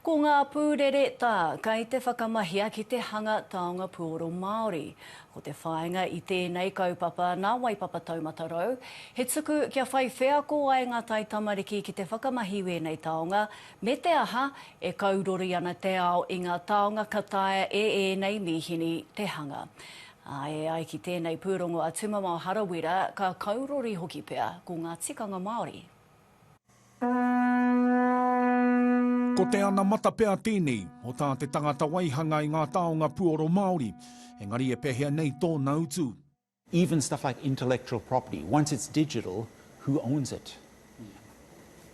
Ko ngā pūrere tā, kei te whakamahia ki te hanga taonga puoro Māori. Ko te whāinga i tēnei kaupapa nā Waipapa Taumata Rau, he tuku kia whai wheako ai ngā taitamariki ki te whakamahi wēnei taonga, me te aha, e kaurori ana te ao i ngā taonga ka taea e ēnei mīhini te hanga. Ā, e ai ki tēnei pūrongo a Tumamao Harawira, ka kaurori hoki pea ko ngā tikanga Māori. Ko te anamata pea tēnei o tā te tangata waihanga i ngā taonga puoro Māori, engari e pehea nei tōna utu? Even stuff like intellectual property, once it's digital, who owns it?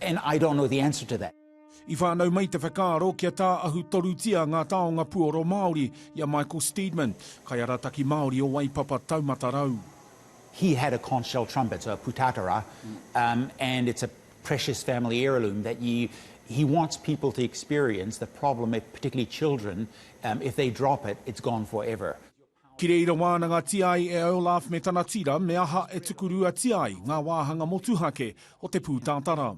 And I don't know the answer to that. I whānau mai te whakaaro kia tāahu torutia ngā taonga puoro Māori i a Michael Steedman, kaiarataki Māori o Waipapa Taumata Rau. He had a conch shell trumpet, a putatara, um, and it's a precious family heirloom that you, he wants people to experience the problem, if, particularly children, um, if they drop it, it's gone forever. Ki reira wānangatia ai e Olaf me tana tira me aha e tukuruatia ai ngā wāhanga motuhake o te pūtatara.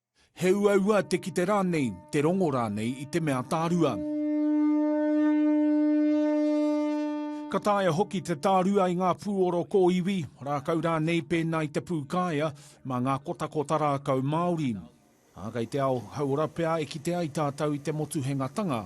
He uaua te kite rānei, te rongo rānei i te mea tārua. Ka taea hoki te tārua i ngā pūoro kōiwi, rākau rānei pēnā i te pūkāea, mā ngā kotakota rākau māori. Ā, kei te ao hauora pea e kite ai tātou i te motuhengatanga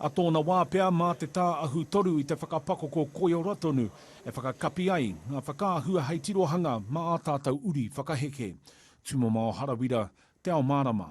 A tōna wā pea mā te tā ahu-toru i te whakapakoko koiora tonu e whakakapi ai ngā whakaahua hei tirohanga mā ā tātou uri whakaheke. Tūmomao Harawira, Te Ao Mārama.